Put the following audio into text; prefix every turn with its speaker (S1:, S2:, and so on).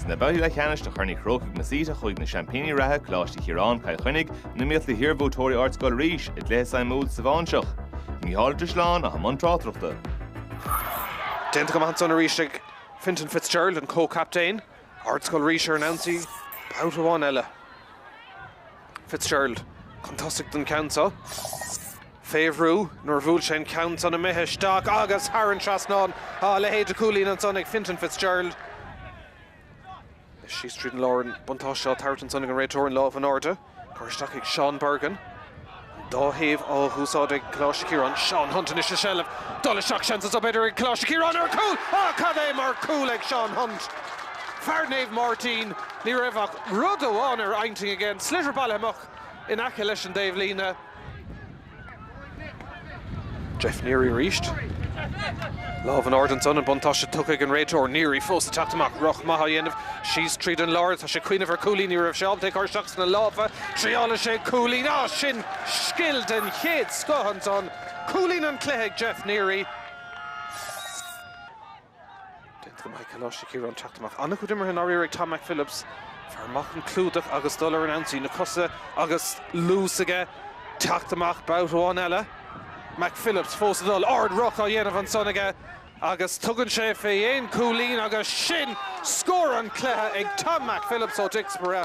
S1: Sna babhtaí leathcheannais de Chorn Uí Chrócaigh Masita chuaigh na seaimpíní reatha, Coláiste Chiaráin, Cill Chainnigh, in iomaíocht le hiarbhuaiteoirí Ardscoil Rís, i gcluiche suimiúil sa Bháinseach. Mícheál Drisleáin a bhí i mbun tráchtaireachta.
S2: Déanta go maith ansan arís ag Fintan Fitzgerald, an comhchaptaen, Ardscoil Rís ar an ionsaí babhta amháin eile. Fitzgerald chun tosaigh don cheann seo. Féach an brú nuair a bhuail sé an ceann san imithe isteach agus thar an trasnán. A leithéid de chúilín ansan ag Fintan Fitzgerald. Síos tríd an lár an buntáiste á thabhairt ansan ag an réiteoir, an lámh in airde curtha isteach ag Sean Bergin. An dá thaobh á úsáid ag Coláiste Chiaráin. Sean Hunt anois i seilbh. Dul isteach seans anso b'fhéidir ag Coláiste Chiaráin ar chúl. Á cad é mar chúl ag Sean Hunt! Fear Naomh Máirtín, ní raibh ach rud amháin ar intinn aige, an sliotar bailithe amach in aice leis an dtaobhlíne. Geoff Neary arís. Lámh in airde ansan, an buntáiste tugtha ag an réiteoir. Neary fós ag teacht amach, rith maith á dhéanamh síos tríd an lár. Tá sé cuimhneamh ar chúilín, ní raibh sé ábalta é a chur isteach sna lámha. Triaileann sé cúilín. Á, sin scil den chéad scoth ansan. Cúilín an chluiche ag Geoff Neary. Déanta go maith ag Coláiste Chiaráin teacht amach an-chuid imeartha an-aréir ag Tom McPhillips fear maith chun clúdach agus dul ar an ionsaí na cosa agus luas aige teacht amach babhta amháin eile. McPhillips fós ag dul ard-rith á dhéanamh ansan aige agus tugann sé fé aon chúilín agus sin scór an chluiche ag Tom McPhillips ó Dicksboro.